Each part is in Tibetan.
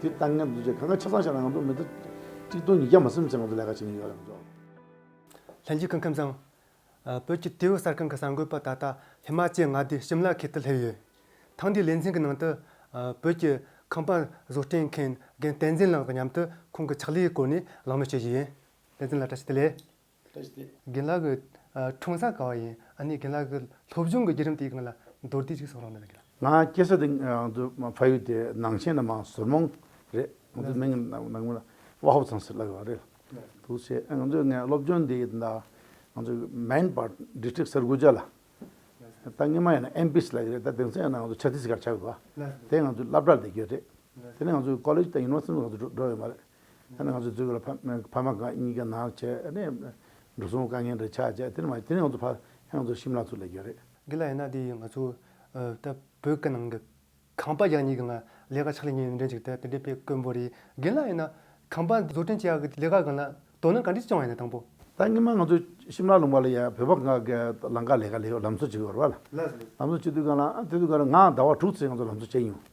དེ་ལྟ་ངན་འདུ་བྱེད་གང་གི་ཆ་ཚང་བྱས་ན་ང་ཚོ་མི་ཚེ་གཅིག་སྟོང་ཉིས་བརྒྱ་མ་སེམས་ཅན་ང་ཚོ་ལས་ཀ་བྱེད་མི་ཡོང་རོགས་གྱོ། ལྷན་རྒྱས་ཁང་ཁྱིམ་ཚང། བོད་ཀྱི་དུས་བབ་གསར་ཁང་གི་གསར་འགོད་པ་ད་ལྟ་ཧི་མ་ཅལ་མངའ་སྡེའི་ཞིམ་ལ་ཁའི་དུ་སླེབས་ཡོད། ཐེངས་འདིའི་ལེ་ཚན་གྱི་ནང་དུ། བོད་ཀྱི་ཁང་པ་བཟོ་སྐྲུན་མཁན་རྒན་བསྟན་འཛིན་ལགས་དང་མཉམ་དུ་ཁོང་གི་ཕྱག་ལས་ཀྱི་སྐོར་ནས་གླེང་མོལ་བྱེད་བཞིན་ཡོད། བསྟན་འཛིན་ལགས་བཀྲ་ཤིས་བདེ་ལེགས། རྒན་ལགས་ཀྱི་འཁྲུངས་ས་གང་བ་ཡིན་ཨ་ནི་རྒན་ལགས་ཀྱི་སློབ་སྦྱོང་གི་བརྒྱུད་རིམ་དེའི་སྒང་ལ་མདོར་བསྡུས་ཅིག་གསུང་རོགས་གནང། ང་སྐྱེས་ས་དེ་ཕ་ཡུལ་དེ་ནང་ཆེན་ནང་མ་ཟུར་མོང་རེད། ང་ཚོའི་མིང་ནང་མོ་ལ་དབའ་ཧོབ་ཚང་ཟེར་ལབ་ཡོད་པ་རེད། དེ་ཕྱིན་ང་ཚོས་ངའི་སློབ་སྦྱོང་འདི་ཡིན་ད། ང་ཚོ་མེན་པར District Sarguja ལ། ད་སྔོན་མ་ཡིན་ན MPC ལ་ཡོད་རེད་ད་དེང་སང་ཡིན་ན་ང་ཚོ Chhattisgarh ཆགས་ཡོད་པ། དེ་ང་ཚོའི་བླ་བྲག་ལ་འདེགས་ཀྱི་ཡོད་རེད། དེ་ནས་ང་ཚོ College དང University ལ་འགྲོ་ཡོད་མ་རེད། ང་ཚོ་འཛུལ་ཡོད་ལ་ཕ་མ་ཕ་མ་གཉིས་ཀ་ནང་ཆས་ནས་འགྲོ་སོང་དཀའ་ངལ་འདྲ་ཆགས་བྱས་དེ་ནི་མ་དེ་ནི་ང་ཚོ་ཕ་ཧེ་ང་ཚོ་ཤི་མ་ལ་ཚུར་ལས་རྒྱུ་རེད། འདི་ལ་ཡིན་ན་དེ་ང་ཚོ་ད་བོད་སྐད་ནང་གི་ཁང་པ་རྒྱག་གཉིས་ཀྱི་ང་ལས་ཀ་ཕྱག་ལས་གཉིས་ཡོད་མི་འདྲ་འཇུག་ཐལ་དེ་འདྲའི་དཔེ་དཀོན་པོ་རེད་རྒན་ལགས་ཡིན་ན་ཁང་པ་བཟོ་སྐྲུན་བྱེད་ཡག་གི་ལས་ཀ་གང་ལགས་དོ་སྣང་ག་འདྲི་བྱུང་བ་ཡིན་ན་དང་པོ། ད་སྔོན་མ་ང་ཚོ་ཤི་མ་ལ་ལུང་པ་ལ་ཡ་བོད་པ་གང་གི་ལང་ཀ་ལས་ཀ་ལས་ལམ་བཟོ་བྱེད་དགོས་ར་བ་ལ་ལམ་བཟོ་བྱེད་དུས་གང་ལ་དེ་དུས་གང་ལ་ང་ཟླ་བ་དྲུག་ཚེ་ང་ཚོ་ལམ་བཟོ་བྱས་མྱོང།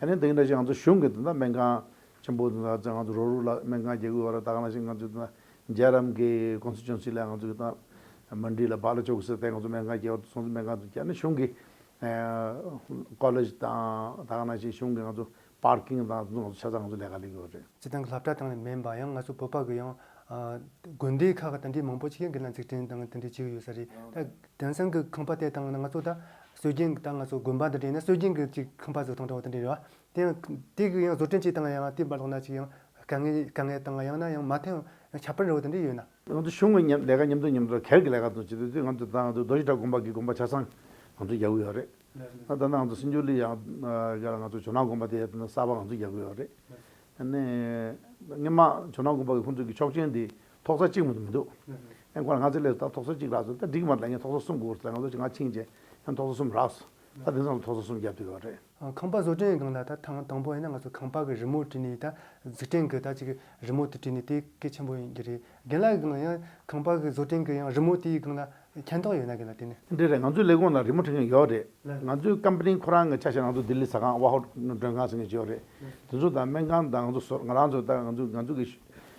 ཨ་ནི་དེང་འདྲ་ཞིག་ང་ཚོ་གཞུང་གི་དེ་འདྲ་སྨན་ཁང་ཆེན་པོ་དེ་འདྲ་ཚེ་ང་ཚོ་རོགས་རུག་ལ་སྨན་ཁང་རྒྱག་དགོས་བ་ར་ད་ག་ང་ཞིག་ང་ཚོ་དེ་འདྲ་རྗེ་རམ་གི་ཀོང་སི་ཅོན་སི་ལ་ང་ཚོ་གི་ཏང་མི་འདྲིས་ལ་བག་ལ་ཆོག་གི་སེ་ཏེ་ང་ཚོ་སྨན་ཁང་རྒྱག་བ་དུ་སོང་ཚེ་སྨན་ཁང་དུ་རྒྱག་ནི་གཞུང་གི་ཀོ་ལེ་ཞི་དང་ད་ག་ང་ཞིག་གཞུང་གི་ང་ཚོ་པར་ཀིང་དང་དེ་ཚོ་ང་ཚོ་ཆ་ཚང་ང་ཚོ་ལས་ཀ་ལས་དགོས་བ་རེད། སྤྱི་དང་གི་ལྷ་བྲ་དང་ལས་མེན་པ་ཡང་ང་ཚོ་བོད་པ་གི་ཡང་དགོན་སྡེ་ཁག་གི་དེ་འདྲའི་མང་པོ་ཅིག་ཡང་གི་ན་འཛིགས་སྐྲན་དང་དེ་འདྲའི་ཅིག་ཡོད་ས་རེད་ད་དེང་སང་གི་ཁང་པ་དེ་དང་ང་ཚོ་ད་སྲོལ་རྒྱུན་གྱི་ཏང་ང་ཚོ་དགོན་པ་དང་འབྲེལ་ནས་སྲོལ་རྒྱུན་གྱི་ཅིག་ཁང་པ་ཚོ་ཐོག་མཐའ་བར་དུ་འབྲེལ་བ། དེ་ཡང་དེ་གི་ཡང་བཟོ་སྐྲུན་བྱེད་སྟངས་ཡང་བསྟུན་པ་ལོགས་ན་ཅིག་ཡང་དཀའ་ངལ་དཀའ་ངལ་དང་ཡང་ན་ཡང་མ་མཐའི་ཡང་ཁྱབ་སྤེལ་འགྲོ་བ་དང་འབྲེལ་ཡོད་ན། ང་ཚོ་གཞུང་གི་ལས་ཀ་ཉམས་རྩོད་ཉམས་རྩོད་གལ་གྱི་ལས་ཀ་ཚོ་བྱེད་དུས་དུས་ང་ཚོའི་ཏང་ང་ཚོའི་རྡོ་རྗེ་བྲག་དགོན་པ་གི་དགོན་པ་ཆ་ཚང་ང་ཚོས་རྒྱག་གི་ཡོད་རེད། ད་ནང་ང་ཚོ་སྲིན་ཇུ་ལི་ཡང་རྒྱ་ལ་ང་ཚོ་ཇོ་ནང་དགོན་པ་དེ་ཡང་གསར་པ་ང་ཚོས་རྒྱག་གི་ཡོད་རེད། ནས། སྔོན་མ་ཇོ་ནང་དགོན་པ་གི་ཁོང་ཚོ་གི་ཆོག་མཆན་དེ། ཐོག་ས་གཅིག་མ་མི་འདུག་ཨེ་འཁོར་ང་ཚོའི་སླད་དུ་ད་ཐོག་ས་གཅིག་རགས་སོ་ད་འགྲིག་མ་ད་ངས་ཐོག་ས་གསུམ་དགོས་ཟེར་ང་ཚོ་ཆེ་ང་ཆིངས་བྱས་ཡང་ཐོག་ས་གསུམ་རགས་སོ་ད་དེང་སང་ལ་ཐོག་ས་གསུམ་བརྒྱབ་ཐུབ་ཡོད་རེད། ཁང་པ་བཟོ་སྐྲུན་གང་ལ་ད་ཐང་དང་པོ་ཡིན་ན་ང་ཚོ་ཁང་པ་གི་རི་མོ་བྲིས་ནས་ད་འཛུགས་སྐྲུན་གི་ད་ཅིག་གི་རི་མོ་དེ་བྲིས་ནས་དེ་གལ་ཆེན་པོ་ཡིན་གྱི་རེད་རྒན་ལགས་གང་ལ་ཡང་ཁང་པ་གི་བཟོ་སྐྲུན་གི་ཡང་རི་མོ་དེའི་གང་ལ་མཁྱེན་རྟོགས་ཡོད་ན་གང་ལ་དེ་ནི། འདི་རེད་ང་ཚོའི་ལས་ཁུངས་ལ་རི་མོ་འཕྲིན་མཁན་ཡོད་རེད་ང་ཚོའི་ཀམ་པ་ནི་ཁོ་རང་གི་ཆ་ཤས་ང་ཚོ་ལྡི་ལི་ཟ་ཁང་དབའ་ཧོ་མགྲོན་ཁང་ཟེར་མཁན་ཞིག་ཡོད་རེད་དེ་ཚོ་དང་སྨན་ཁང་དང་ང་ཚོ་སོར་ང་རང་ཚོ་ད་ང་ཚོ་ང་ཚོ་གི།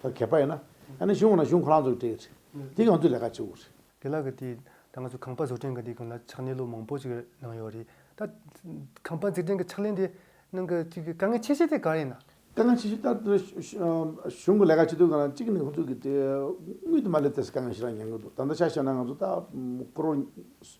ཐོག་གེགས་པ་ཡོད་ན། ཡང་ན་གཞུང་ཁོ་ན་གཞུང་ཁོ་རང་ཚོ་གིས་སྤྲད་ཡོད་རེད། དེ་གང་ཚོད་ལས་ཀ་བྱེད་དགོས་རེད། དེ་ལ་གི་དེ། ད་ང་ཚོ་ཁང་པ་བཟོ་སྐྲུན་གི་དེ་གི་ལ་ཕྱག་ལས་ལོ་མང་པོ་ཞིག་གནང་ཡོད་རེད། ད། ཁང་པ་འཛིགས་སྐྲུན་གི་ཕྱག་ལས་འདི། ནང་གི་གཅིག་གི་དཀའ་ངལ་ཆེ་ཤོས་དེ་ག་རེད་ན། དཀའ་ངལ་ཆེ་ཤོས་ལྟར་དེ། གཞུང་གི་ལས་ཀ་བྱེད་དུས་གང་ན་གཅིག་ནི་ཁོང་ཚོ་གིས་དེ། དངུལ་དུ་མ་སླེབས་ཏེ་དཀའ་ངལ་ཞེ་དྲག་ཉན་གྱི་འདུག་ད་ལྟ་ཆ་བཤད་ན་ང་ཚོ་ད། སྐོར་བ།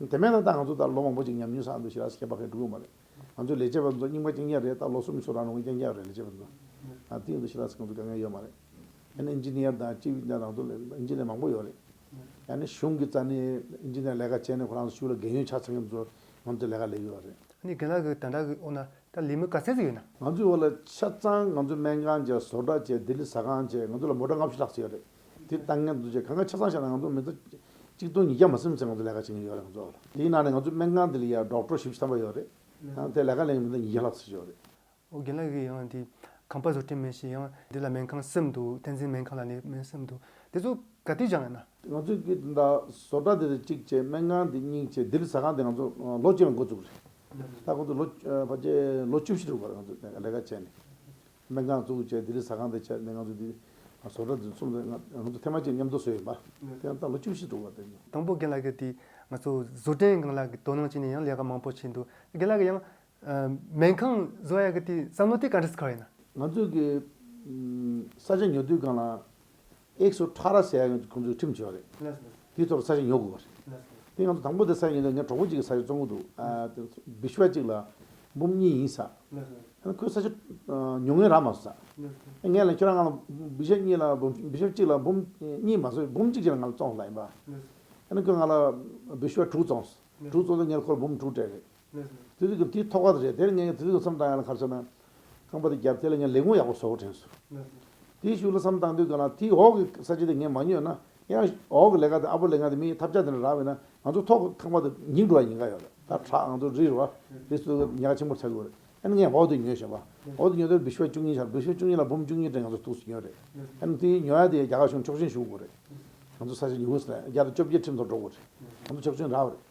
དེ་མེད་ན་ད་ང་ཚོ་ལྟར་ལོ་མང་པོ་ཅིག་ཉམས་མྱོང་ཟ་འདོད་ཞིག་རག་ས་ཁྱད་པར་ཁས་འགྲོ་གི་མ་རེད། ང་ཚོའི་ལས་བྱེད་པ་ཚོ་རྙིང་པ་རྐྱེན་རྐྱང་རེད་ད་ལོ་གསུམ་ཚོ་རག་རུང་རྐྱེན་རྐྱང་རེད་ལས་བྱེད་པ་ཚོ། དེ་ཡིན་དུ་ཞིག་རག་ས་ང་ཚོ་དགའ་ངལ་ཡོད་མ་རེད། ཡང་ན Engineer དང་སྤྱི་བའི་རང་རྟོགས་ལས Engineer མང་པོ་ཡོད་རེད། ཡང་ན་གཞུང་གི་རྩ་ནས Engineer ལས་ཀ་བྱས་ནས་ཁོ་རང་ཚོ་ཕྱུགས་ལ་རྒན་ཡོལ་ཆགས་ཚར་མཁན་ཚོ་ང་ཚོ་ལས་ཀ་ལས་ཡོད་རེད། ཨ་ནི་རྒན་ལགས་ཀྱི་དམ་དྲག་གི་འོག་ན་ད་ལས་མི་ག་ཚད་ཅིག་ཡོད་ན། ང་ཚོའི་འོག་ལ་ཆ་ཚང་ང་ཚོ་སྨན་ཁང་བྱས་བཟོ་གྲྭ་བྱས་ལྡི་ལི་ཟ་ཁང་བྱས་ང་ཚོ་ལ་མོ་དགྲ་ལྔ་བཞི་ལྷག་བྱས་ཡོད་རེད། དེ་ལྟ་ངན་འདུ་བྱེད་གང་ག་ཆ་ཚང་བཤད་ན་ང་ཚོ་མི་ཚོ་གཅིག་སྟོང་ཉིས་བརྒྱ་མ་སེམས་ཚེ་ང་ཚོ་ལས་ཀ་བྱེད་མཁན་ཡོད་རེད་ང་ཚོ། དེའི་ནང་ནས་ང་ཚོའི་སྨན་ཁང་འདི་ལ་ཡར་འབྲོག་གྲོ་ཞིབ་བཤད་པ་ཡོད་རེད། དེ་ལས་ཀ་ལེན་མཁན་མི་ཚོ་ཉིས་བརྒྱ་ལྷག་ཚུད་ཡོད་རེད། ཨོ་རྒྱན་ལགས་ཀྱིས་ཡང་དེ་ཁང་པ་བཟོ་གྲས་མེད་ཞེས་ཡང་འདི་ལ་སྨན་ཁང་སེམས་འདུག་བསྟན་འཛིན་སྨན་ཁང་ལ་ནས་སྨན་སེམས་འདུག་དེ་ཚོ་ག་དུས་སྦྱང་བ་ཡིན་ན། ང་ཚོས་ཀྱིས་འདི་དག་བཟོ་གྲ་འདི་རེད་གཅིག་བྱས་སྨན་ཁང་འདི་གཉིས་བྱས་འདི་ལ་ཟ་ཁང་འདི་ང་ཚོ་ལོ་བཅུ་ཡང་འགོ་བཙུགས་རེད། ད་ཁོང་ཚོ་ལོ་བརྒྱད་ལོ་བཅུ་བཞི་དྲུག་པར་ང་ཚོ་ལས་ཀ་བྱས་ནས། སྨན་ཁང་བཙུགས་རྗེས་ལྡི་ལི་ཟ་ཁང་དུ་ཆས་ནས་ང་ཚོ་ལྡི་ལིར་བཟོ་གྲྭ་འཛུགས་རྩོམ་དེ་ང་ཚོ་ཐེངས་མ་གཅིག་མཉམ་དུ་བཟོས་ཡོད་པ་དེ་ཡང་ད་ལོ་བཅུ་བཞི་དྲུག་ལ་བརྟེན་ནས། དང་པོ་རྒན་ལགས་ཀྱིས་དེ་ང་ཚོ་བཟོ་གྲྭའི་རྐང་ལག་གི་དོ་སྣང་བྱས་ནས་ཡང་ལས་ཀ་མང་པོ་བྱས་འདུག་རྒན་ལགས་ཀྱིས་ཡང། སྨན་ཁང་བཟོ་ཡག་གི་དེ་བསམ་བློ་དེ་ག་འདྲ་ཟིག་ཁར་ཡིན་ན། ང་ཚོ་གི། ས་ཆ་ཉོ་དུས་རྐང་ལག་ཨེག་སུ་ཁྲ་ར་སའི་ཁོང་ཚོའི་ཁྲིམས་བྱས་པ་རེད། དེའི་ཐོག་ལ་ས་ཞིང་ཉོ་དགོས་པ་རེད། དེ་ང་ཚོ་དང་པོ་དེ་ས་ཞིང་ཉོ་དགོས་ན་ངའི་གྲོགས་པོ་གཅིག་གི་ས་ཞིང་བཙོང་གི་འདུག་དེ་བི་ཤུ་བ་གཅིག་ལ་འབུམ་གཉིས་ཡིན་ས། ཡང་ཁོས་ས་ཆ་ཉོ་ངེས་རག་མ་བཟོ་ས། ངས་ལ་ཁྱོད་རང་ང་ལ་བི་ཤུ་གཉིས་ལ་བི་ཤུ་གཅིག་ལ་འབུམ་གཉིས་མ་བཟོས་འབུམ་གཅིག་ཅིག་ལ་ང་ལ་བཙོང་ལ་ཡིན་པ། ཡང་ན་ཁོས་ང་ལ་བི་ཤུ་བ་དྲུག་བཙོང། དྲུག་བཙོང་ཚེ་ངས་ཁོ་ལ་འབུམ་དྲུག་སྤྲད་རེད། ཙི་ཙི་གུ་དེའི་ཐོག་ཁ་རེད་དེར་ངས་ཙི་ཙི་གུ་བསམ་བཏང་ཡ་ལ་ཁ་བྱོ་ན། རྐང་པ་དེ་རྒྱབ་དེ་ལ་ངས་ལས་ཁུང་ཡག་པོ་བཟོ་དྲན་སོ། དེའི་ཤུགས་ལ་བསམ་བཏང་དུས་ག་ལ་དེའི་འོག་གི་ས་བྱི་དེ་ངས་མ་ཉོས་ན། ཡང་འོག་གི་ལས་ཀ་དེ་ཨ་པོ་ལས་ཀ་དེ་མིའི་ཐབ་ཆག་དེ་འདྲ་རག་བས་ན་ང་ཚོ་ཐོག་གི་ཁང་པ་དེ་ཉིག་འགྲོ་བ་ཡིན་ག་ཡོད་རེད་ད་ཁྲག་ང་ཚོ་རི་རུ་བ་རི་སུ་གི་ཉག་ཆེན་པོར་ཆག་གི་ཡོད་རེད་ཡ་ནི་ངས་འོག་དེ་ཉོས་བྱས་པ་འོག་དེ་ཉོས་དེར་བི་ཤུ་བ་བཅུ་གཉིས་ཆག་བི་ཤུ་བ་བཅུ་གཉིས་ལ་འབུམ་བཅུ་གཉིས་དྲན་ང་ཚོ་ཐུགས་སུ་ཉོས་རེད་ཡ་ནི་དེའི་ཉོ་ཡ་དེ་ཡ་རྒྱ་གར་གཞུང་ཆོག་མཆན་ཞུ་དགོས་རེད་ང་ཚོ་ས་བྱི་ཉི་ཧུ་སི་ཐན་རྒྱ་དང་བཅོ་བརྒྱད་ཁྲིམས་ཐོག་འགྲོ་དགོས་རེད་ང་ཚོ་ཆོག་མཆན་རག་རེད།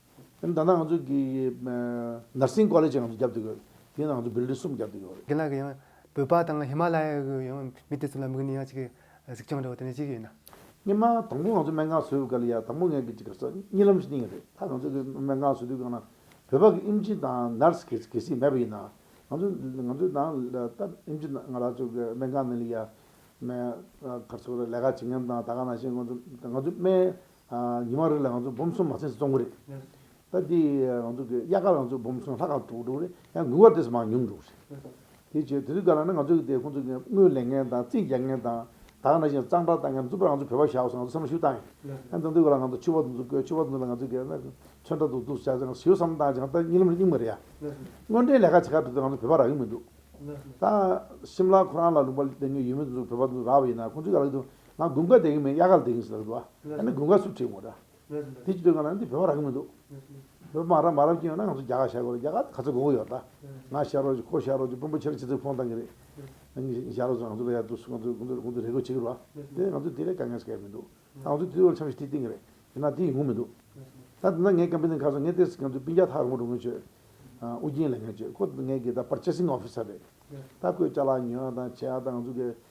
ཡང་མདའ་ན་ང་ཚོ་གི Nursing College ཡང་ང་ཚོ་རྒྱབ་ཏུ་ཡོད། དེ་ཡང་ང་ཚོ Building གསུམ་རྒྱབ་ཏུ་ཡོད། དེ་ལ་གི་ཡང་བོད་པ་དང་ཧི་མ་ལ་ཡའི་གི་ཡང་མི་དེ་ཚོ་ལ་དམིགས་ནས་ཡང་ཅིག་གི་གཟིགས་སྐྱོང་འདྲ་བོ་དེ་འདྲ་ཅིག་ཡོད་ན། སྙེ་མ་དང་པོ་ང་ཚོ་སྨན་ཁང་བཟོས་ཡོད་ག་ལ་ཡ་དང་པོ་ངས་གི་ཅིག་གི་སོ་གཉིས་ལམ་གཉིས་རེད་ད་ང་ཚོ་གི་སྨན་ཁང་བཟོས་དུས་གང་ན་བོད་པ་གི་ཨིམ་ཇི་དང Nurse གི་གི་སིག་མེད་པ་ཡིན་ན། ང་ཚོ་ང་ཚོ་ནང་ལྟར་ཨིམ་ཇི་དང་ང་རང་ཚོ་གི་སྨན་ཁང་ནས་ལི་ཡ། མེ་གར་ཚོ་ལས་ཀ་བྱེད་མཁན་དང་ད་ག་ན་བྱེད་ང་ཚོ་ང་ཚོ་སྨན་ཉི་མ་རེ་ལ་ང་ཚོ་སྦོམ་གསུམ་མ་ཚེས་བཙོང་གི་རེད། ད་དེ་ང་ཚོ་གི་དབྱར་ཁར་ང་ཚོ་སྦོམ་གསུམ་ལྷག་ག་དྲུག་འགྲོ་གི་རེད། ཡང་དགུན་ཁར་དེ་ཚོ་མང་ཉུང་འགྲོ་གི་རེད། དེ་བྱས་དེ་ཚོའི་སྐབས་ལ་ནི་ང་ཚོ་གི་དེ་ཁོང་ཚོ་གི་དངུལ་ལེན་མཁན་དང་རྩིས་རྒྱག་མཁན་དང། དག་ན་བཞིན་གཙང་སྦྲ་བཏང་མཁན་གཙུག་པར་ང་ཚོ་བོད་པ་བཞག་སོང་ང་ཚོ་བསམ་བློ་ཞུ་བཏང་ཡོད། ཡང་དེ་ཚོའི་སྐབས་ལ་ང་ཚོ་ཆུ་བ་དུ་ཚོ་བསྐོས་ཆུ་བ་དུ་ཚོ་ལ་ང་ཚོ་གི་ཚོན་ཁྲ་དུ་ཚོ་བྱས་ཟིན་ཞུ་བསམ་བཏང་བྱས་ད་གཉིད་ལམ་རེ་སྙིང་མི་རེ་ཡ། དངོས་འབྲེལ་ལས་ཀ་བྱེད་ཁ་དེ་ཚོ་ང་ཚོ་བོད་པ་རག་གི་མི་འདུག། ད་ཤིམ་ལ་ཁོ་རང་ལ་ལུང་པ་ལྡེང་མཁན་ཡོད་མི་དེ་ཚོ་བོད་པ་དེ་ཚོ་རག་པ་ཡིན་ན་ཁོང་ཚོའི་ག་ལ་གི་དུ་ང་དགུན་ཁ་འདེང་གི་མིན་དབྱར་ཁ་ལ་འདེང་ཟེར་གི་འདུག་ཨ། ད་ནི་དགུན་ཁ་སུ་བྲིས་མོད། དེ་ཅི་འདོད་ང་ལ་འདི་བོད་པ་རག་གི་མི་འདུག། བོད་པ་མ་རབ་མ་རབ་ཀྱིན་ཡོད་ན་ང་ཚོ་རྒྱ་གར་ཤར་གོ་རེད་རྒྱ་གར་དུ་ག་ཚོད་དགོས་གི་ཡོད་ད། ང་ཤར་རོགས་ཀྱི་ཁོ་ཤར་རོགས་ཀྱི་དཔོན་པོ་ཁྱེད་རང་ཅི་ཚོད་ཕོངས་བཏང་གི་རེད། ངས་ཤར་རོགས་ཚོ་ང་ཚོ་ལ་ཡར་འདུག་སུ་ང་ཚོ་གུང་ཐོད་རེ་དགོས་བྱེད་གི་རོགས་ཨ། དེ་ལས་ང་ཚོ་དེ་ལས་དཀའ་ངལ་སེལ་ཡ་མི་འདུག་ད་ང་ཚོ་དེ་དབུས་ལ་འཆམ་ཞིག་ཁྲིད་བསྟན་གི་རེད་ཡིན་ན་དེ་ཡིན་དགོས་མི་འདུག། ད་དེ་འདྲ་ངས་ཀམ་པེ་ནི་ཁ་སང་ངས་ཏེ་སི་ཁན་དུ་པིན་རྒྱ་ཐག་རིང་པོ་འགྲོ་མཁན་ཆོས་ཨུ་རྒྱན་ལས་ངན་ཆོས་ཁོ་ངས་གི་ད་པར་ཅེ་སིང་ཨོ་ཕི་སར་རེད། ད་ཁོས་ལྕགས་ལ་ཉོ་ཡ་དང་བྱེད་ཡ་དང་ང་ཚོ་གི་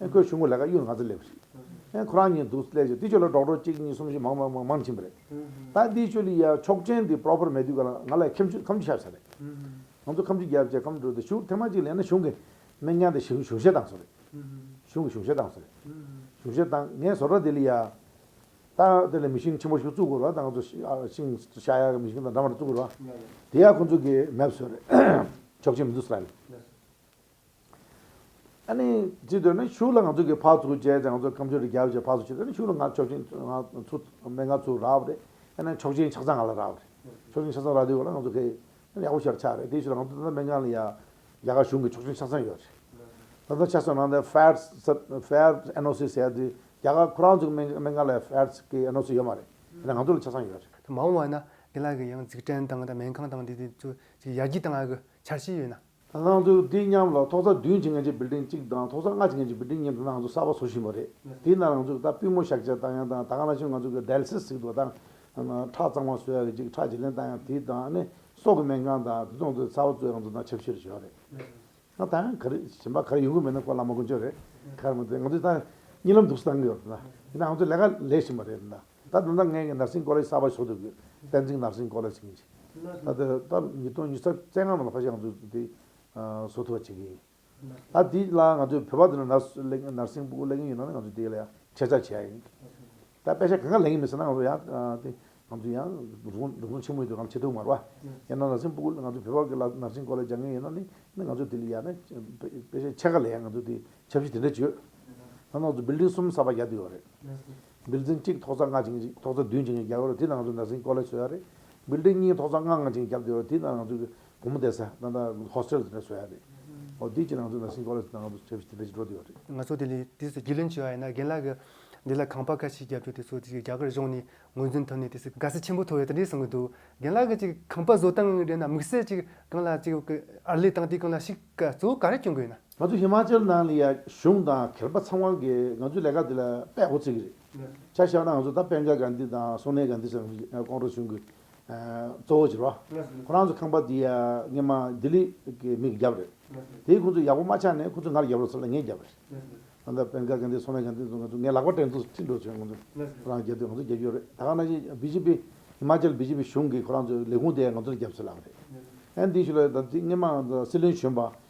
ཨེ་ཁོས་ཆུང་ཁོ་ལས་ཀ་གཡུག་ནག་རྩེ་སླེབས་རེད། ཨེ་ཁོ་རང་ཉིད་འདུག་སླེ་རྗེས་འདི་ཆོས་ལ་འགྲོགས་འགྲོགས་གཅིག་གཉིས་གསུམ་བཞི་མང་མང་མང་ཕྱིན་པ་རེད། ད་འདིའི་ཆོས་ལི་ཡ་ཆོག་ཆེན་འདི proper མེད་དུས་ག་ལ་ང་ལ་ཁེམ་ཆུ་ཁམ་ཆུ་ཤ་ཆ་རེད། ང་ཚོ་ཁམ་ཆུ་རྒྱབ་བཅས་ཁམ་འགྲོས་དེ་ཞུགས་ཐེངས་མ་གཅིག་ལེན་ན་གཞུང་གི་མི་ཉག་དེ་གཞུང་གཞུང་བཞེས་བཏང་སོང་རེད། གཞུང་གི་གཞུང་བཞེས་བཏང་སོང་རེད། གཞུང་བཞེས་བཏང་ངས་བཟོ་གྲ་འདི་ལི་ཡ། ད་དེ་ལ་མི་ཤིང་ཆེན་པོ་ཞིག་བཙུགས་དགོས་རེད་ད་ང་ཚོ་ཤིང་ཤ་ཡག་གི་མི་ཤིང་དང་འདྲ་མ་རེད་བཙུགས་དགོས་རེད། དེ་ཡང་ཁོ་ཚོ་གིས་མེད་བཟོས་རེད། ཆོག་ཆེན་མི་འདུག་ས་རེད། ཅི་འདོད་ན་ཞུ་ལ་ང་ཚོ་གི་ཕག་ཚུགས་བྱས་ཀྱང་ང་ཚོ་ཁམས་ཆོས་རིག་རྒྱལ་བ་ཅེས་ཕག་ཚུགས་བྱས་ཏེ་ཞུ་ལ་ང་ཆོག་ཆེན་ང་ཚུགས་མེད་ང་ཚུགས་རག་པ་རེད། མཆོག་ཆེན་ཆགས་ཚང་ང་ལ་རག་པ་རེད། མཆོག་ཆེན་ཆགས་ཚང་རག་དུས་གོ་ལ་ང་ཚོ་ཁེ། ཡག་པོ་ཞར་ཆགས་རེད་དེ་ཞུ་ལ་ང་ཚོ་ད་ལྟ་སྨན་ཁང་ལ་ཡ། རྒྱ་གར་གཞུང་གི་མཆོག་ཆེན་ཆགས་ཚང་ཡོད་རེད། ད་ལྟ་ཆགས་ཚང་ནང་དེ་ཕཱེར་སི་ཕཱེར་སི NOC བྱས་དུས་རྒྱ་གར་ཁོ་རང་ཚོ་གི་སྨན་ཁང་ལ་ཕཱེར་སི་ཀི NOC ཡོད་མ་རེད། ང་ཚོ་ལ་ཆགས་ཚང་ཡོད་རེད། མ་འོངས་བ་ན་འདི་ལ་གི་ཡང་འཛུགས་སྐྲན་དང་སྨན་ཁང་དང་དེ་དེ་ཚོ་ཅིག་ཡར་རྒྱས་གཏང་བ་གི་འཆར་གཞི་ཡོད་ན། སྣང་ཚུལ་འདི་མཉམ་ལ་ཐོག་རྩ་བདུན་བྱེད་མཁན་གྱི་བིལ་ལྡིང་གཅིག་དང་ཐོག་རྩ་ལྔ་བྱེད་མཁན་གྱི་བིལ་ལྡིང་གཉིས་སྣང་ཚུལ་གསར་པ་བཟོ་བཞིན་པ་རེད། དེས་ན་རང་ཚུགས་དང་པུས་མོ་བཞག་ཆ་བཏང་ཡང་དང་ད་ག་ན་ཕྱིན་ང་ཚོ་གི Dialysis གཟིགས་འགྲོ་དང། ཁྲག་གཙང་མ་བཟོ་ཡ་གི་ཅིག་ཁྲག་བྱེད་ལེན་བཏང་ཡང་དེ་དང་ནི་སྲོག་གི་སྨན་ཁང་དང་དུད་ཚང་ཚོའི་ཚ་བ་གཙོས་རང་ཚུགས་དང་ཆབ་སྲིད་རེད་ཞོག་རེད། ང་ད་ཡང་ག་རེ་ཞིམ་པ་ག་རེ་ཡོང་གི་མེད་ན་སྐོར་ལ་མ་གོ་འཇོག་རེད། ཁ་རེ་མ་ཏོག་ང་ཚོ་ད་ཉིན་ལམ་འདུག་སྟངས་ཡོད། དེ་ན་ང་ཚོ་ལས་ཀ་ལས་བཞིན་པ་རེད། ད་དུང་ནངས་ཀྱི་ནར་སྲིན་ཀོ་ལ་ཡི་ས་བར་ཞོག་ཏུ་དགོས། བསྟན་འཛིན་ནར་སྲིན་ཀོ་ལ་ཕྱིན་ཅིག། ད་དེ་ད་ཉིས་སྟོང་ཉི་ས་བཙན་སྔ་མོ་ལ་ཧྥ་ཞང་ཚུ་དེ་བཟོ་ཐུབ་པ་བྱེད་ཀྱི་ཡིན། ད་དེ་ལ་ང་ཚོས་བོད་པ་དེ་ནོ་ནར་སུ་ལེགས་ནར་སྲིན་པུ་ལེགས་ཡིན་ཡོད་ན་ནི་ང་ཚོས་དེ་ལ་ཡང་ཁྱད་ཆ་བྱེད་ཡ་ཡིན། ད་དཔེ་ཆ་གང་གང་ལེགས་ཡིན་མི་སྲིད་ན་ང་ཚོ་ཡང་དེ་ང་ཚོ་ཡང་རུང་རུང་ཆེན་མོ་ཡོད་དུ་ང་ཚོ་ཆེ་ཐུག་མར་བ། ཡང་ན་ནར་སྲིན་པུ་ང་ཚོ་བོད་པ་ཀི་ལ་ནར་སྲིན་ཀོ་ལ་སྦྱང་མཁན་ཡོད་ན་ནི་ནི་ང་ཚོས་དེ་ལ་ཡ་ན་དཔེ་ཆ་ཆེ་ག་ལ་ཡང་ང་ཚོས་དེ་ཆབ་སྲིད་དེ་འདྲ་ཅི་ཡོད། ད་ནང་ཚུ་བིལ་ལྡིང་གསུམ་ས་བར་རྒྱག་དུས་ཡོད་རེད། འབུལ་རྫིང་གཅིག་ཐོག་རྩ་ལྔ་ཆིངས་གཅིག་ཐོག་རྩ་བདུན་ཆིངས་གཅིག་བརྒྱབ་ཡོད་རེད་དེ་ནང་ཚུད་ནར་སྲིང་ཀོ་ལེ་བཟོས་ཡོད་རེད། འབུལ་རྫིང་གཉིས་ཐོག་རྩ་ལྔ་ལྔ་ཆིངས་བརྒྱབ་ཡོད་རེད་དེ་ནང་ཚུད་བུ་མོ་བསྡད་ས་ད་ལྟ Hostel ཟེར་ནས་བཟོས་ཡོད་རེད། འོ་དེའི་གཅིག་ནང་ཚུད་ནར་སྲིང་ཀོ་ལེ་ཟེར་ནས་ང་ཚོ་བྱས་བྱས་འགྲོ་དེ་ཡོད་རེད། ང་ཚོ་དེ་ལས་དེ་ཚོ་རྒྱུས་ལོན་བྱས་པ་ཡིན་ན་རྒན་ལགས་ཀྱིས་འདི་ལ་ཁང་པ་ཁ་ཤས་བརྒྱབ་ཆོག་དེ་ཚོ་རྒྱ་གར་གཞུང་ནས་ངོས་འཛིན་ཐོབ་ནས་དེ་ཚོས་དགའ་བསུ་ཆེན་པོ་ཐོབ་ཡོད་ད་རེད་གསུང་གི་འདུག་རྒན་ལགས་ཀྱིས་ཅིག་ཁང་པ་བཟོ་སྟངས་རེད་ན་དམིགས་བསལ་ཅིག་གང་ལ་ཅིག་ཨར་ལས་བཏང་སྟེ་གང་ལ་ཞིག་ག་ཚོད་ག་རེ་སྐྱོན་དགོས་ན། ང་ཚོ་ཧི་མཱ་ཅལ་ནང་ལ་ཡང་གཞུང་དང་གྱེར་པ་ཚང་མ་གིས་ང་ཚོའི་ལས་ཀ་འདི་ལ་དཔེ་གོ་ཚིག་རེད། ཆ་བཞག་ན་ང་ཚོ་ད་པེན་ཀ་གྷན་དྷི་དང་སོ་ནེ་གྷན་དྷི་སོགས་ཀྱི་ཀོང་ཀྲོ་གཞུང་གི་གཙོ་བོ་བྱེད་པ། ཁོ་རང་ཚོ་ཁང་པ་འདི་ཡང་སྔན་མ་ལྡི་ལི་གི་མིས་བརྒྱབ་རེད། དེས་ཁོང་ཚོ་ཡག་པོ་མ་ཆགས་ནས་ཁོ་ཚོས་ངར་བརྒྱབ་ལ་ཚོ་ལ་ངས་བརྒྱབ་རེད། ད་ལྟ་པེན་ཀ་གྷན་དྷི་སོ་ནེ་གྷན་དྷི་ཚོ་ང་ཚོ་ངའི་ལག་པ་སྤྲད་འདུག་ཁྲིད་འགྲོ་བྱས་ཁོང་ཚོས་ཁོ་རང་རྒྱབ་དུས་ང་ཚོ་རྒྱབ་རྒྱུ་རེད་ད་ག་ན་ཞིག་བྷི་ཇི་པི་ཧི་མཱ་ཅལ་བྷི་ཇི་པི་གཞུང་གིས་ཁོ་རང་ཚོའི་ལས་ཁུངས་དེ་ཡང་ང་ཚོར་བརྒྱབ་ཚུལ་ལབ་རེད། ཨན་དྷི་ཞུ་ལ་ད་ཐེངས་སྔན་མ་ང་ཚོ་སྲིད་བློན་གཞོན་པ་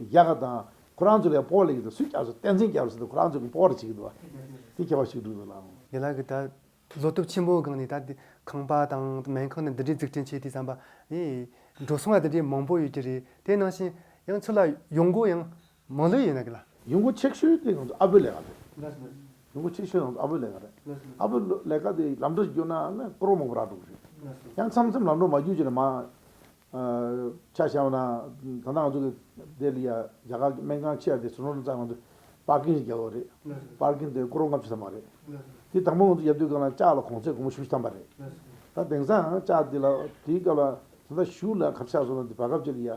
རྒྱ་གར་དང་ཁོ་རང་ཚོ་ལས་སྤོར་ལས་ཀྱི་དུས་སུ་སུས་ཀྱང་བསྟན་འཛིན་རྒྱལ་པོ་ཚོ་དང་ཁོ་རང་ཚོ་གི་སྤོར་རེ་བྱེད་ཀྱི་འདུག་བ་དེ་ཁྱད་པར་ཞིག་གྲུབ་ཡོད་ལ། ཡན་ལག་གི་ད་བཟོ་སྟོབས་ཆེན་པོའི་སྒང་ནས་ད་དེ་ཁང་པ་དང་སྨན་ཁང་ནི་འདི་འདྲའི་འཛུགས་སྐྲུན་བྱས་དུས་བསམ་པ་ཡིས། འགྲོ་སོང་ཡང་དེ་འདྲའི་མང་པོ་ཡོད་ཀྱི་རེད་དེ་ནང་བཞིན་ཡང་ཚུར་ལ་ཡོང་སྒོ་ཡང་མང་ལེ་ཡིན་ན་གི་ལ། ཡུང་གུ་ཆེག་ཤོའི་དེ་ཡོང་དུ་ཨ་བུ་ལེ་ག་རེད། ཡུང་གུ་ཆེག་ཤོའི་ཡོང་དུ་ཨ་བུ་ལེ་ག་རེད། ཨ་བུ་ལེ་ག་དེ་ལམ་འགྲོ་ཞིག་གྱུར་ན་ནི་སྐུ་རོང་མང་པོ་རག་འགྲོ་གི་རེད། ཡང་མཚམས་མཚམས་ལམ་འགྲོ་མ་གྱུར་ཅིག་ལ་མ། ཆ་བཞག་པ་ན་ད་ལྟ་ང་ཚོ་གི་དེ་ལི་ཡ་རྒྱ་གར་གི་སྨན་ཁང་ཆེ་བ་དེ་སུ་ནོར་ནས་བཙལ་ང་ཚོ་པར་ཀིན་ཞིག་རྒྱག་ཡོད་རེད། པར་ཀིན་དེ་སྐུ་རོང་ལྔ་བཅུ་ཙམ་མ་རེད། དེ་དང་པོ་ང་ཚོ་རྒྱབ་དུས་སྐབས་ན་ལྕགས་ལ་གོང་ཚད་གོང་མོ་བཞུ་བཏང་པ་རེད། ད་དེང་སང་ལྕགས་དེ་ལ་དེའི་སྐབས་ལ་ད་ལྟ་བཞུ་ལ་གབ་ཆག་སོང་ན་དེ་བར་གབ་ཅིག་ལི་ཡ།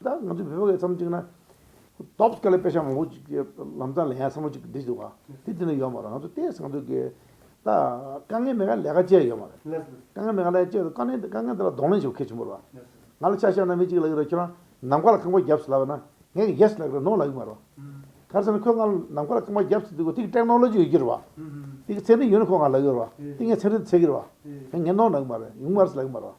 ད་ང་ཚོས་བོད་པ་ཁ་ཚང་གཅིག་ན། སྟོབས་དཀའ་ལས་དཔེ་ཆ་མང་པོ་ཞིག་གི་ལམ་རྩ་ལས་ཡ་ཚང་པོ་ཅིག་འབྲི་འདུག་ག་དེ་དེ་ནས་ཡོད་མ་རེད་ང་ཚོ་ལྟས་ཟེར་ག་འདུག་གི། ད་དཀའ་ངལ་མེད་ཀ་ལས་ཀ་སྤྱད་ཡོད་མ་རེད། དཀའ་ངལ་མེད་ཀ་ལས་ཀ་སྤྱད་དཀའ་ངལ་དཀའ་ངལ་དེ་ལ་གདོང་ལེན་བྱེད་མཁན་ཆེན་པོ་རེད་པ། ང་ལ་ཆ་བཞག་ན་མི་གཅིག་ལ་ཡོད་རེད་ཁྱོད་རང་ནམ་མཁའ་ལ་རྐང་པ་བརྒྱབ་ཟེར་ལབ་པ་ན་ངས་ཀྱི་ཡེས་ལབ་ཀྱི་རེད་ནོ་ལབ་ཀྱི་མ་རེད་པ། ག་ཚོད་ན་ཁོས་ང་ལ་ནམ་མཁའ་ལ་རྐང་པ་བརྒྱབ་ཟེར་དུས་ཀྱི་དེ་ཀྱི་ཀྲེག་ནོ་ལོ་ཇི་ཡོད་ཀྱི་རེད་པ། དེ་ཀྱི་ཚད་འབྲས་ཡོད་ན་ཁོས་ང་ལ་ལབ་ཀྱི་རེད་པ། དེ་ངས་ཚད་འབྲས་འདི་ཚད་ཀྱི་རེད་པ། ངས་ངས་ནོ་ལབ་ཀྱི་མ་རེད་ཡུང་མ་རེད་ལབ་ཀྱི་མ་རེད་པ།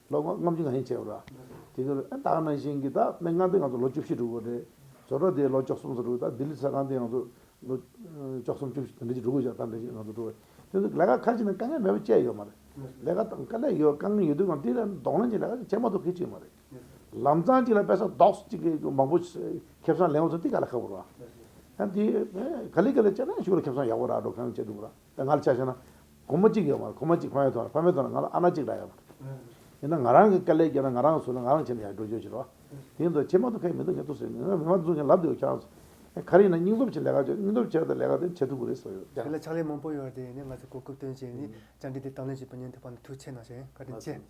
ལོ་ངོ་ལྔ་བཅུ་གང་ཡིན་བྱས་པར། དེ་ཁར་ཨེ་ཏཱག་ནང་བཞིན་གྱི་ཏཱ་མེ་ངག་དེ་ང་ཚོ་ལོ་བཅུ་བཞི་དྲུག་གོ་རེད། བཟོ་གྲོགས་དེ་ལོ་བཅོ་གསུམ་སོ་དྲུག་ཏཱ་ལྡི་ལི་ས་ཁང་དེ་ང་ཚོ་ལོ་བཅོ་གསུམ་བཅུ་བཞི་དང་འདྲེ་བཞི་དྲུག་གོ་བཞི་ཏཱ་འདྲེ་བཞི་ང་ཚོ་དྲུག་གོ། དེ་ཚོ་ལས་ཀ་ཁ་ཅིག་ནང་དཀའ་ངལ་མེད་པ་བཅས་ཡོད་མ་རེད། ལས་ཀ་དང་དཀའ་ལས་ཡོད་དཀའ་ངལ་ཡོད་དུས་ཀྱང་དེ་ལས་ལྡོག་ལན་ཅིག་ལས་ཀ་ཅིག་བྱེད་མ་ཐུབ་ཁེ་ཅིག་མ་རེད། ལམ་ཚང་གཅིག་ལ་དཔེ་ས་རྡོག་གཅིག་གི་མང་པོ་ཁེབས་སང་ལེན་བ་ཚོ་དེ་ག་ལ་ཁག་པོ་ར། ཡང་དེ་ག་ལེ་ག་ལེ་བྱས་ན་ཞུགས་ལ་ཁེབས་སང་ཡག་པོ་ར་འགྲོ་གང་ཡང་བྱེད་ཐུབ་ར། ད་ང་ལ་ཆ་བཤད་ན། བུ་མོ་གཅིག་ཡོད་མ་རེད་བུ་མོ་གཅིག་ཕ་མའི་ཐོག་ལ་ཕ་མའི་ཐོག་ལ་ང་ལ་ཨ་ན་གཅིག་འདྲ་ཡོད་མ་རེད། ཡིན་ན་ང་རང་གིས་དཀའ་ལས་བརྒྱབ་ན་ང་རང་གི་ཟུར་ལ་ང་རང་ཁྱེད་ལ་ཡར་འགྲོ་རྒྱུ་ཡོད་ཕྱིར་རོ། དེའི་མདོ་ཁྱེད་མ་གཏོགས་ཕན་མི་འདུག་ཁྱེད་གཏོགས་སུ་ཡོད་མི་འདུག་ང་མ་གཏོགས་ཁྱེད་ལབ་བསྡད་ཡོད་ཁྱེད་རང། ག་རེ་ཡིན་ན་སྙིང་སྟོབས་ཆེད་ལས་ཀ་བྱོས་སྙིང་སྟོབས་ཆེད་དུ་ལས་ཀ་དེ་བྱེད་ཐུབ་ཀྱི་རེད་ཟེར་ཡོད། དེ་ལ་ཕྱག་ལས་མང་པོ་ཡོད་རེད་དེ་ནས་ང་ཚོས་གོ་སྐབས་སྟོན་བྱས་ནས་བཅར་འདྲི་དེ་དང་ལེན་བྱེད་པ་ཉན་ཐུབ་པ་ནི་ཐུགས་ཆེ་ནང་བཞིན་བཀའ་དྲིན་ཆེ།